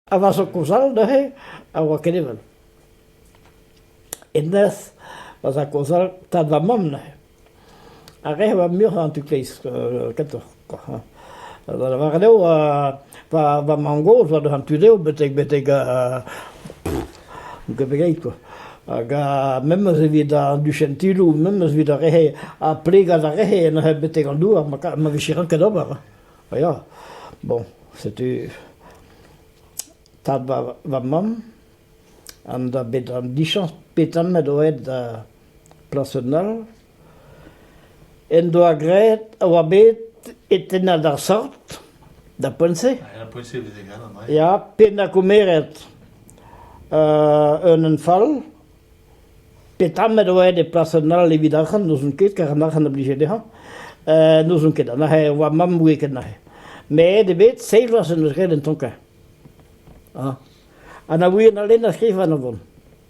A vasa kozal neuze a oa ket evel. E-nerzh ma za kozal tad va mamm neuze. Ar re a oa muioc'h en tu kleiz kentoc'h kwa hañ. Da lavaret eo, pa va mamm gozh oa deus an tu dezho betek betek Debreit. Hag memes evit an duchentilou, memes evit ar re-se, ha plegat ar re-se neuze betek an douar ma vije ranket ober. Ha ya, bon, setu tad va mamm an da bet an dichañs petan met o aet da plas un all. en doa graet a oa bet e tennad ar sort, da poent-se. Da poent-se e veze graet an draezh. Ya, pennañ koumeret un enfal, petra met oet e plas an all evit arc'hant, n'ouzon ket, kar an arc'hant a blije dezhañ, n'ouzon ket, anezhe e oa mamm ouie ket anezhe. Met eo bet seizh vloaz en deus graet en ton-kañ. Ha na ouien all na skrivan a vont.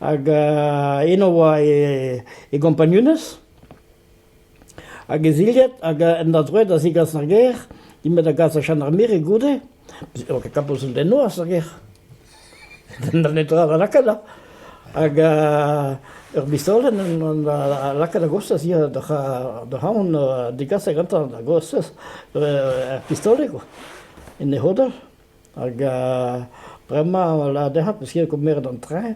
Hag eno e oa e gompagnunezh, hag e zilhad, hag en doa droed da zegas ar gêr, int bet da gas da Chanarmere goude, ne oa ket kapoz un den noazh er gêr, na netra da lakaat da, hag ur bistolenn a laka da gostez hier d'ar c'haon degaset gantañ da gostez ur pistolenn, en e c'hodell. Hag bremañ e lâr dezhañ peseurt eo kemeret an traeñ.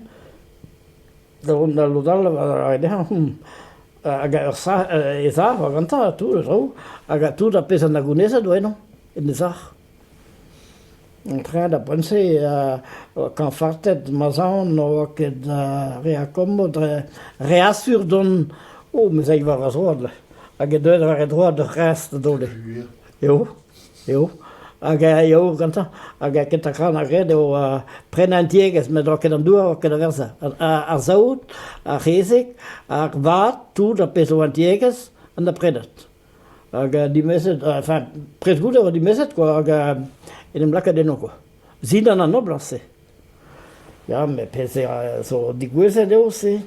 Da vont da lod all a ray dezhañ hag ur sac'h e sac'h war gantañ ha tout e traoù hag tout ar pezh a na gounezet oa eno en e sac'h. An traeñ da poent-se kaoñ fartet ma zaon ne oa ket re akommoù dre re asur dont. O, me 'z ay war va zroad hag eo deuet war e droad ur c'hreñs da dole. eo, eo, hag eo gantañ, hag kentañ tra 'na graet eo prenañ an tiegezh met 'oa ket an dour, 'oa ket a werzh, ar saout, ar c'hezeg, ar vat, tout ar pezh 'oa an tiegezh an da prenet. Hag dimezet, enfin prest goude 'oa dimezet kwa, hag en em lakaet eno kwa, zindan an noblañs-se. Ya met pezh zo digouezet eo se.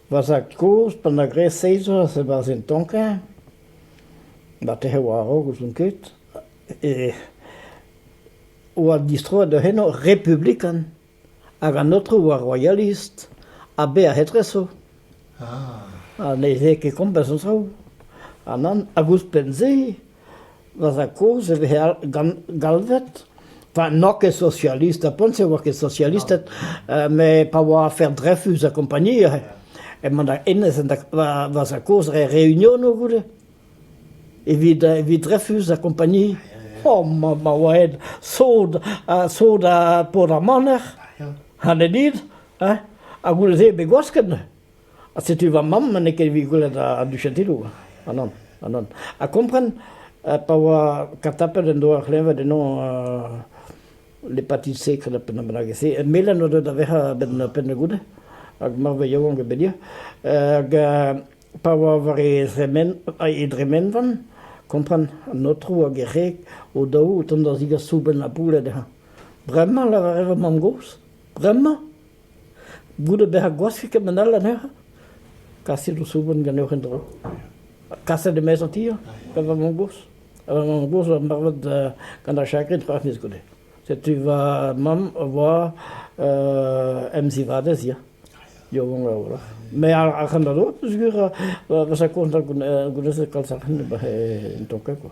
Va zad-kozh, pa 'n doa graet seizh vloaz e-barzh un tonkañ, ma tec'he war-raok, ouzon ket, e oa distroet da henañ republikan hag an aotrou a oa royalist ha bez' ar c'hetreso. Ha ne veze ket komz a zo traoù. Ha nann, hag ouzhpenn-se Va zad-kozh e veze galvet, pa n'oa ket sozialist, ha poent e oa ket sozialisted, met pa oa afer Dreyfus ha kompagnie emañ da hennezh va zad-kozh dre reunionoù goude evit evit Dreyfus ha kompagnie. O, ma oa aet sod sod ha Port ar Maner, ha ne dit, ha goude-se bet gwasket. Ha setu va mamm n'eo ket evit gwelet an duchentilloù, ha nann, ha nann. Ha kompren, pa oa katapet en doa ur c'hleñved ennañ l'hépatite C, credo ar pennad bennak e-se, melen o deus da vec'hañ a-benn pennad-goude, hag marvet yaouank e bedia. Hag pa oa war e dremen, e dremenvan, kompren, an aotrou hag e c'heg o-daou o tont da zigas soubenn ha pouled dezhañ. Bremañ, lavaret va mamm-gozh, bremañ? Goude bezañ gwask ket man all anezhañ, kaset ho soubenn ganeoc'h en-dro. Kaset e-maez an ti hañ, gant va mamm-gozh. Ha va mamm-gozh o marvat gant ar chakrin c'hoazh miz goude. Setu va mamm o voa emzivadez ya, yaouank a-walc'h. Met ar c'hant a dro peogwir va sakourn goulennet kalz arc'hant en tonkad kwa.